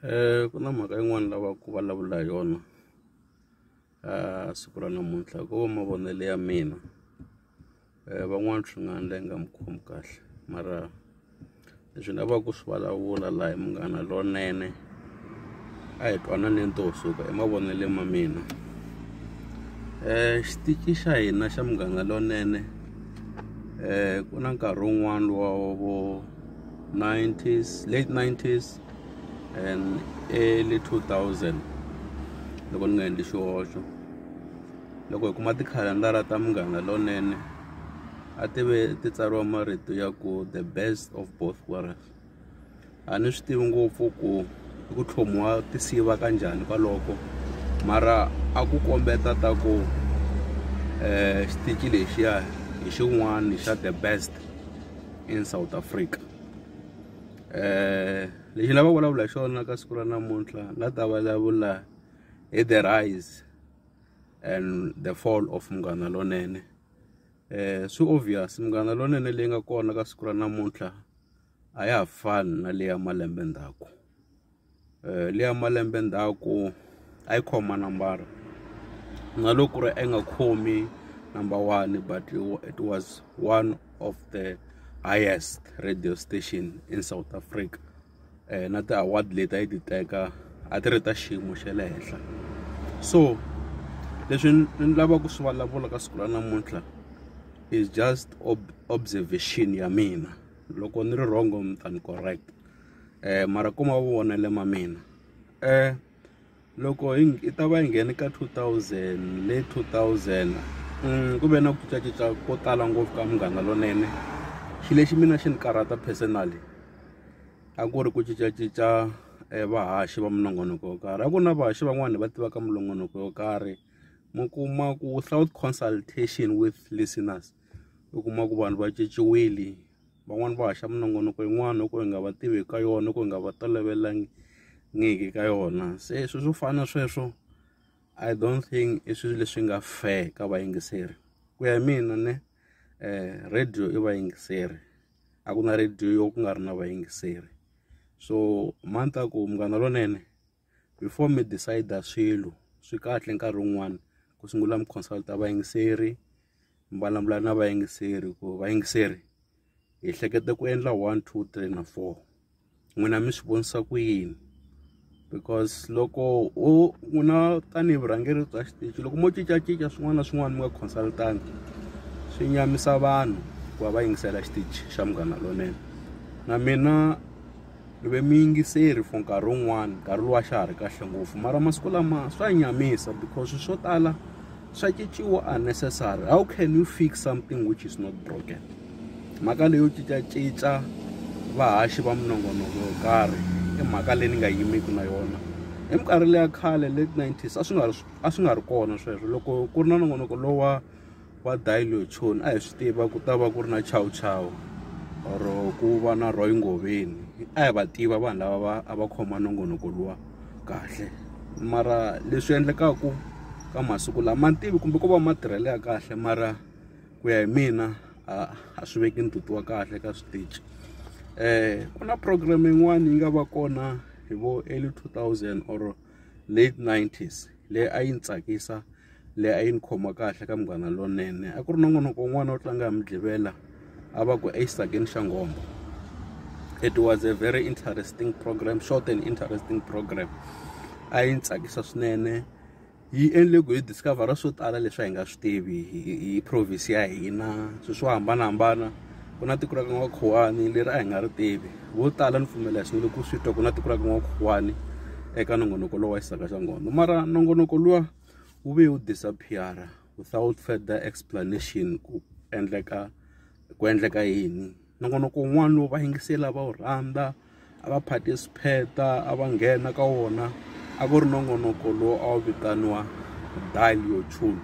um ku na mhaka yin'wani lava ku vulavula hi yona a siku ra namuntlha ko va mavonelo ya mina um van'wani swi nga ndla yi nga mi khomi kahle mara leswi ni lavaka ku swi vulavula laha hi munghana lonene a hi twananeni to suka hi mavonele ma mina um xitichi xa hina xa munghana lonene um ku na nkarhi wun'wani wa vo 90s late 90s and early 2000 loko ni nga endli xihoxo loko hi kuma tikhalandara ta munghana lonene a ti ve ti tsariwa marito ya ku the best of both worlds A ni swi tivi ngopfu ku i ku tlhomiwa tinsiva ka njhani kwaloko mara a ku kombeta ta ku xitichi lexiya hi xin'wani xa the best in South Africa lexi ni lavaka ku vulavula hi xona ka siku ra namuntlha ni nga ta vulavula hi the rise and the fall of Munghana Lonene swi obvious Munghana Lonene leyi nga kona ka siku ra namuntlha. a ya ha fani na leyi ya malembe ndzhaku leyi ya malembe ndzhaku a yi khoma manambara na loko ku ri a yi nga khomi number one but it was one of the highest radio station in South Africa. eh, na ti-award leti a yi ti teka a ti ri ta xiyimo xa le henhla so leswi ni lavaka ku swi vulavula ka siku ra namuntlha is just ob observation ya mina loko ni ri wrong mi ta ni correct eh mara ku mavonele ma mina eh loko hi yi ta va yi nghene ka two thousand le two thousand ku ve na ku cincacinca ko tala ngopfu ka munghana lonene xi lexi mina xi ni karhata personally a ku ri ku cincacinca vahaxi va minongonoko yo karhi a ku na vahaxi van'wani va tivaka minongonoko yo karhi mi kuma ku without consultation with listeners u kuma ku vanhu va cinciwile. van'wani va haxa minongonoko yin'wani yo ka hi nga va tivi ka yona ku hi nga va tolovelangiki ka yona se swilo swo fana na sweswo I don't think i swilo leswi nga fair ka vayingiseri ku ya hi mina ne radio i vayingiseri a ku na radio yo ku nga ri na vayingiseri so mhani ta ku munghana lonene. before mi decide swilo swi kahle nkarhi wun'wani ku sungula mi consult vayingiseri mi vulavula na vayingiseri ku vayingiseri hi hlekete ku endla one two three na four n'wina mi swi vonisa ku yini because loko u u na tanihi vurhangeri bya xitichi loko mo cincacinca swin'wana na swin'wana mi nga consultangi swi nyamisa vanhu ku va va yingisela xitichi xa munghana lonene na mina ni ve muyingiseri for nkarhi wun'wani nkarhi lowu a xa ha ri kahle ngopfu mara masiku lama swa nyamisa because swo tala swa cinciwa unnecessary how can you fix something which is not broken mhaka leyo cincacinca vahaxi va minongonoko yo karhi i mhaka leyi ni nga yimeki na yona hi minkarhi leya khale late nineties a swi nga ri a swi nga ri kona sweswo loko ku ri na nongonoko lowa wa dillution a hi swi tiva ku ta va ku ri na chow chow or ku va na roy ngoveni a hi va tiva vanhu lava va a va khoma nongonoko luwa kahle mara leswi endlekaku ka masiku lama ma tivi kumbe ko va ma tirhele ya kahle mara ku ya hi mina a a swi veki ntutu wa kahle ka switichi um ku na program yin'wana yi nga va kona hi vo early two thousand or late nineties leyi a yi ni tsakisa leyi a yi ni khoma kahle ka munghana lonene a ku ri nongonoko wun'wana wo tlanga hi mudlivela a va ku exisageni xa nghombo it was a very interesting program short and interesting program a yi ni tsakisa swinene yi endle ku hi discover-a swo tala leswi a hi nga swi tivi hi province ya hina swilo swo hambanahambana ku na tiko ra ka n'wakhuwani leri a hi nga ri tivi vo tala ni pfumela swinene ku swi twa ku na tiko ra ka n'wakhuwani eka nongonoko lowu wa xisaka xa nghondo mara nongonoko luwa wu ve wu disappeara without further explanation ku endleka ku endleka yini nongonoko wun'wana lowu va yingisela va wu rhandza a va phate swipheta a va nghena ka wona a ku ri nongonoko lowu a wu vitaniwa dial your tune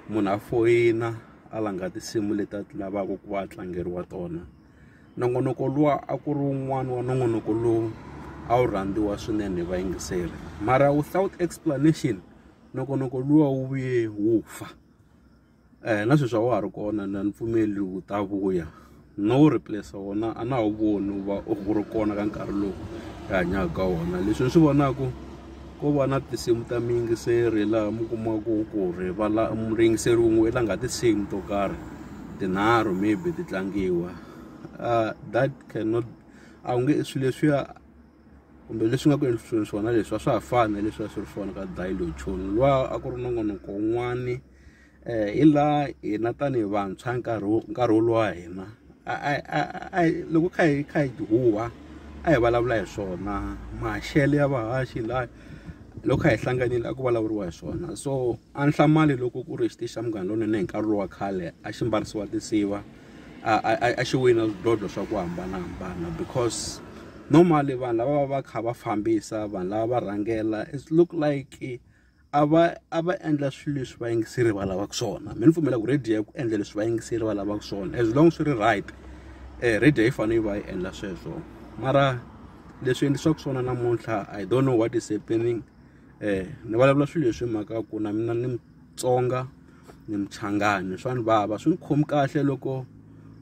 munhu a foyina a langa tinsimu leti a ti lavaka ku va a tlangeriwa tona nongonoko luwa a ku ri wun'wani wa nongonoko lowu a wu rhandziwa swinene hi vayingiseri mara without explanation nongonoko luwa wu vuye wu fa. eh, na sweswi a wa ha ri kona na ni pfumeli wu ta vuya no replace wona a na wu voni wu va u ri kona ka nkarhi lowu hi hanyaka ka wona leswi ni swi vonaka ko va na tinsimu ta miyingiseri laha mi kumaka ku ri vala muyingiseri wun'we la nga tinsimu to karhi tinharhu maybe ti tlangiwa uh, that cannot a wu nge swilo leswiya kumbe leswi nga ku endlisiweni swona leswi a swa ha fani na leswi a swi ri swona ka dialochon lwa a ku ri nongonoko wun'wani um hi laha hina tanihi vantshwa nkarhi wo nkarhi wolowo wa hina a loko kha hi kha hi huwa a hi vulavula hi swona maxelo ya vahaxi laha loko hi hlanganile a ku vulavuriwa hi swona so a ni hlamali loko ku ri xitichi xa munghana lonene hi nkarhi lowa khale a xi mbarisiwa tinsiva a xi wina swidlodlo swa ku hambanahambana because normally vanhu lava va va kha va fambisa vanhu lava va rhangela it look like a va a va endla swilo leswi vayingiseri va lavaka swona mi ni pfumela ku radio ya ku endla leswi vayingiseri va lavaka swona as long swi ri right eh radio yi fanele yi va yi endla sweswo mara leswi endlisiwaka swona namuntlha i don't know what is happening eh ni vulavula swilo leswi hi mhaka ku na mina ni mutsonga ni muchangani swa ni vava swi ni khomi kahle loko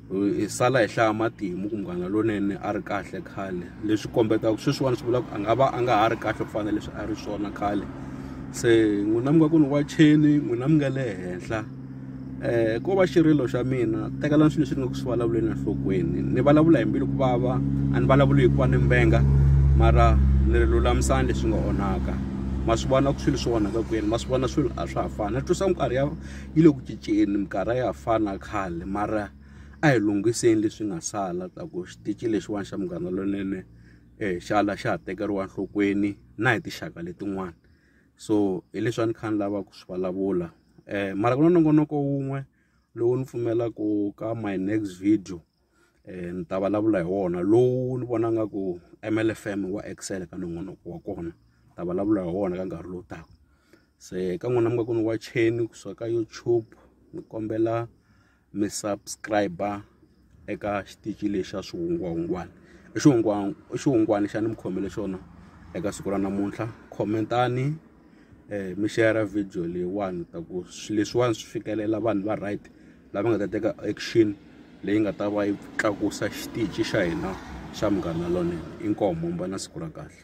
hi sala hi hlaya matimu ku munghana lonene a ri kahle khale leswi kombetaka sweswiwani swi vula ku a nga va a nga ha ri kahle ku fana leswi a ri swona khale se n'wina mi nga ku ni wa cheni n'wina mi nga le henhla um ko va xirilo xa mina tekelani swilo leswi ni nga ku swi vulavuleni enhlokweni ni vulavula hi mbilu ku vava a ni vulavuli hikuva ni mbenga mara ni ri lulamisani leswi nga onhaka ma swi vona ku swilo swi onhaka kwini ma swi vona swilo a swa ha fani ni twisa minkarhi ya yi le ku cinceni minkarhi a ya ha fani na khale mara a hi lunghiseni leswi nga sala ta ku xitici lexiwani xa munghana lonene um xala xa ha tekeriwa enhlokweni na hi tinxaka letin'wana so hi leswi a ni kha ni lava ku swi vulavula um mara ku na nongonoko wun'we lowu ni pfumelaka ka my next video. eh, ni ta vulavula hi wona lowu ni vona nga ku mlfm wa excel ka nongonoko wa kona ta vulavula hi wona ka nkarhi lowu taka se ka n'wina mi nga ku ni wa cheni kusuka ka youtube ni kombela mi subscribe eka xitichi lexi xa swihungwahungwana i xihungwani xa ni mi khomele xona eka siku ra namuntlha khomentani um mi share video leyiwani ta ku swilo leswiwani swi fikelela vanhu va right lava nga ta teka action leyi nga ta va yi tlakusa xitichi xa hina xa munghana lonene inkomo mba na siku ra kahle